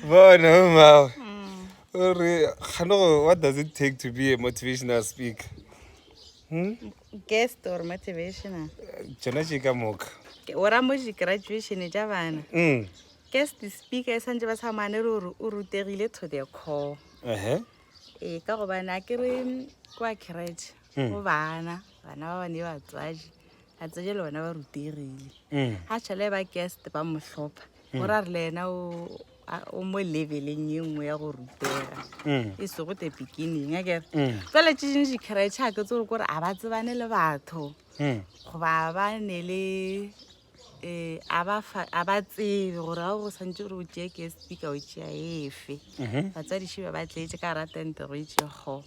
bona mmago o re gane go what does it take to be a motivational speaker hmm? guest or motivational tsona tše ka moka o ra moji graduation e ja bana mm. guest speaker e santse ba sa mane re gore o rutegile to the call ee eh, ka gobane a ke re kwa crate go hmm. bana bana ba bane batswadi a tseye le bona ba rutegile ga tšhele ba kest ba mo tlhopha gore a re le ena o mo leveleng e nngwe ya go rutega e sego te beginning a kere tsale tse dingwe dikgeretšhe a ke tse gore kore a ba tsebane le batho goba ba ne le um a ba tsebe gore ga go santse gore o tšee ke speaker o tšea efe batsadiše ba ba tleetse ka ratentego itše go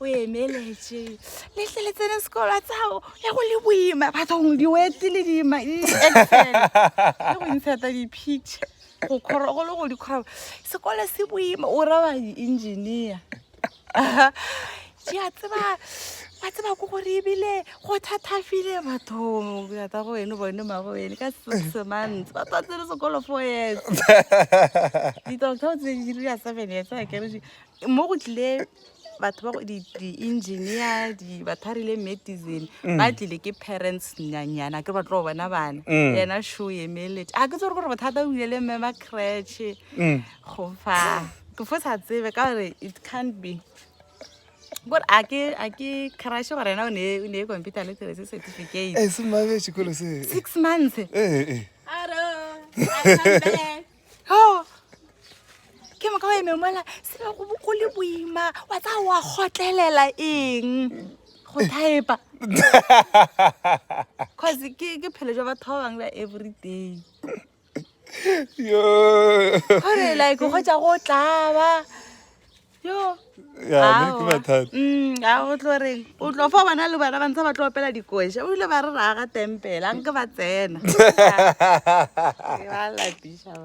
o emeletse letle le tsene sekolo a tsao ya go le boima bathong diwete le dima le go intsheta di-picture go kgoro go le go dikgoro sekolo se boima o raba di-engineer jea tseba ba tseba ko gore ebile go thathafile bathong ata go wene bone mago wene ka semantse ba twa tsene sekolo four years di-doctor tse di dira seven years a keree mo go tlile batho ba go- di- di-engineer di- ba tharile medicine Mm. ba tlile ke parents nyanyana a ke re ba tlo bona bana Mm. yena show emelete a ke tsere gore bothata o bile le mme ba cratche Mm. go fa ke fo sa tsebe ka gore it can't be kore a ke a ke crashe gore yena o ne o ne e computer le tsere se certificate e se mabe sekolo se six months Eh, eh. Hello, I come back. ke moka wa eme mola se go go le boima wa tla wa gotlelela eng go thaepa cause ke ke phelo jwa batho ba bangwe ba every day gore like go ja go tlaba yo ga mm, go tlo reng o tlo fa bona le bana ba ntse ba tlo opela dikoša o ile ba re raga tempela nke ba tsena ba lapiša ba